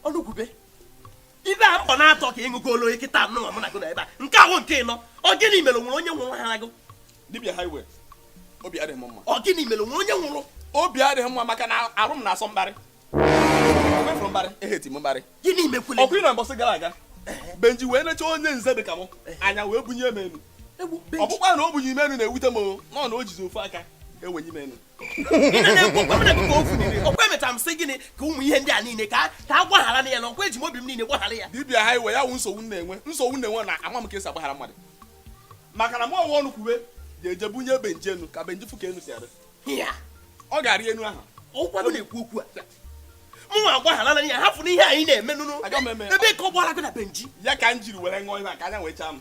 ọnụkwube ebe a mkpọ naatọ ka ị ṅụgolo kịta nụ mụ na gị nọ ebe a nke a wụ nke ịnọ ọ gịnị mere o nwere onye nwụrụ ha agụ dibia highway obi adịghị m mma ọ gịnị mere o nwere onye nwụrụ obi adịghị m mma maka na arụ m na-asọ mbarị mefụrụ mbarị eheti m mbarị gịnị mekwule ọkwa ị nọ mbọsị gara aga benji wee nechaa onye nze dị ka m anya wee bunye m enu ọ bụghịkwa na o bunye m enu na-ewute m ọ na o jizi ofu aka wee bunye m enu ọkwa emechara m sị gị na ụmụ ihe ndị a niile ka a gbagharanụ ya na ọkwa eji m obi m niile gbaghara ya dibịa highway ya wụ nsogbu m na-enwe nsogbu m na-enwe na ama m ka esi agbaghara mmadụ maka na mụwa ọnụkwube ga-eje bunye benji enu ka benji fụ ka enu si adị ọ ga-arị enu ahụ ọkwa m na-ekwu okwu a mụ nwa gbagharanụ ya hapụ na ihe anyị na-eme nụnụ ebe ka ọ gbara gị na benji ya ka m jiri were ṅụọ ihe a ka anya wee chaa m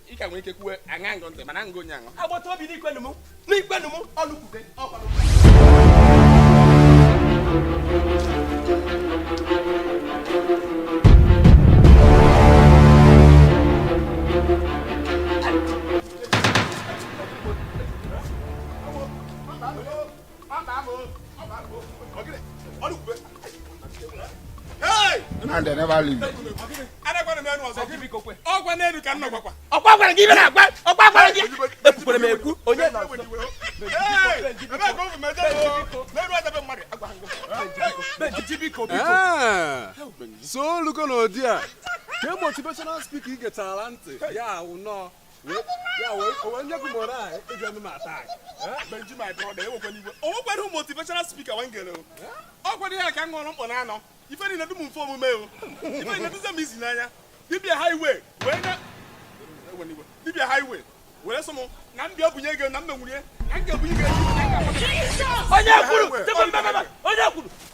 ị ka nwere ike kwuwe ana m ege ntị mana ngụ onye aṅụ agbata obi n'ikwenu m n'ikwenu m ọnụkwube ọkwanụ And they never leave. ọgwa n'elu ka m na-agwakwa ọkwa gwara gị ibe na-agwa ọkwa gwara gị ekwukwara m ekwu onye na so olugo na ụdị a ka motivational speaker ị getara ntị ya wụ na ọ o nwekwara motivational speaker one m gere ọ gwara ya ka m ṅụrụ mkpọ naanọ ife niile dị m mfe omume o ife niile dịzie m easy n'anya dibia highway wee na dibia highway were sị m na m bịa bunye gị na m menwurie na m ga-ebunye gị onye kwuru onye kwuru